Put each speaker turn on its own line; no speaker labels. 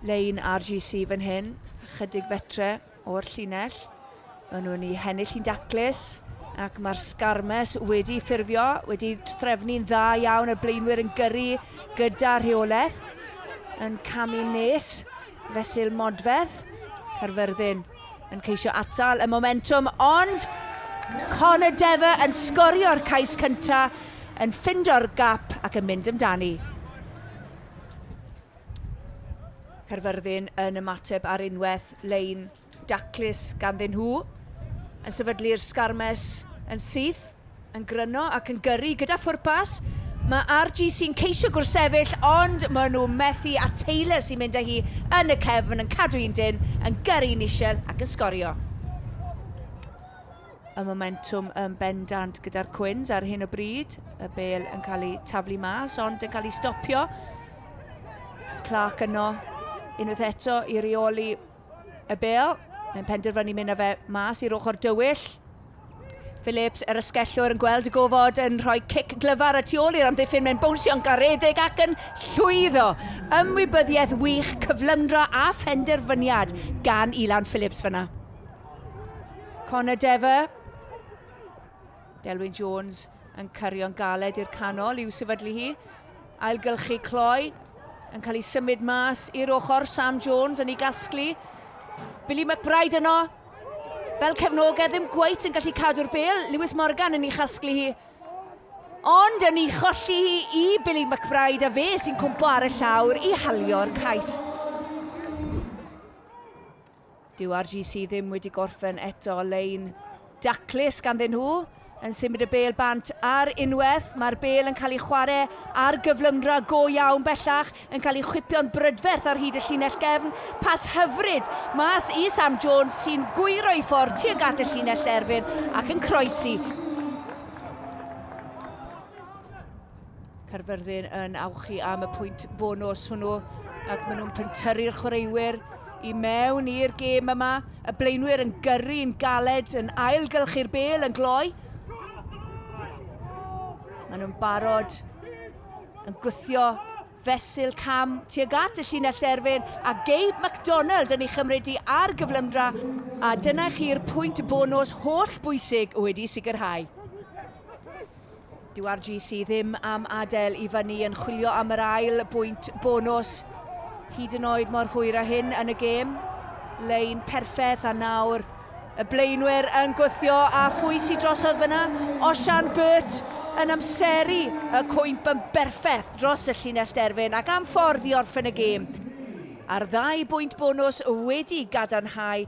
Lein RGC fan hyn, chydig fetre o'r llinell. Maen nhw'n ei hennill hi'n daclus ac mae'r Sgarmes wedi ffurfio, wedi trefnu'n dda iawn, y blaenwyr yn gyrru gyda rheolaeth, yn camu nes, fesul modfedd, Carfyrddin yn ceisio atal y momentum, ond Connor Dever yn sgorio'r cais cyntaf, yn ffindo'r gap ac yn mynd amdani. Caerfyrddin yn ymateb ar unwaith lein daclus ganddyn nhw. Yn sefydlu'r sgarmes yn syth, yn gryno ac yn gyrru gyda phwrpas. Mae RGC'n ceisio gwrthsefyll ond maen nhw methu a Taylor sy'n mynd â hi yn y cefn yn cadw un dyn, yn gyrru Nichelle ac yn sgorio. y momentwm yn bendant gyda'r Cwins ar hyn o bryd. Y bel yn cael ei taflu mas, ond yn cael ei stopio. Clark yno, unwaith eto i reoli y bel. Mae'n penderfynu mynd â fe mas i'r ochr dywyll. Phillips, yr ysgellwr, yn gweld y gofod yn rhoi cic glyfar y tu ôl i'r amddiffyn. Mae'n bownsio'n garedig ac yn llwyddo. Ymwybyddiaeth wych, cyflymdra a phenderfyniad gan Ilan Phillips fyna. Connor Dever. Delwyn Jones yn cyrio'n galed i'r canol i'w sefydlu hi. Ailgylchu cloi yn cael ei symud mas i'r ochr. Sam Jones yn ei gasglu. Billy McBride yno. Fel cefnogedd ddim gweith yn gallu cadw'r bel. Lewis Morgan yn ei chasglu hi. Ond yn ei cholli hi i Billy McBride a fe sy'n cwmpo ar y llawr i halio'r cais. Dyw RGC ddim wedi gorffen eto, lein daclus ganddyn nhw yn symud y bêl bant ar unwaith. Mae'r bêl yn cael ei chwarae ar gyflymdra go iawn bellach, yn cael ei chwipio'n brydferth ar hyd y llinell gefn. Pas hyfryd mas i Sam Jones sy'n gwyro ei ffordd tuag at y llinell derfyn ac yn croesi Caerfyrddin yn awchu am y pwynt bonus hwnnw ac maen nhw'n pentyrru'r chwaraewyr i mewn i'r gêm yma. Y blaenwyr yn gyrru yn galed yn ailgylchu'r bel yn gloi. Maen nhw'n barod yn gwthio fesul cam tuag at y llinell derfyn a Gabe MacDonald yn ei chymryd i ar gyflymdra a dyna chi'r pwynt bonus holl bwysig wedi sicrhau. Dyw'r GC ddim am adael i fyny yn chwilio am yr ail bwynt bonws. Hyd yn oed mor hwyr a hyn yn y gêm. Lein perffaith a nawr y blaenwyr yn gwthio a phwy sydd drosodd fyna? Osian Burt yn amseru y cwymp yn berffaith dros y llinell derfyn ac am ffordd i orffen y gêm. A'r ddau bwynt bonws wedi gadarnhau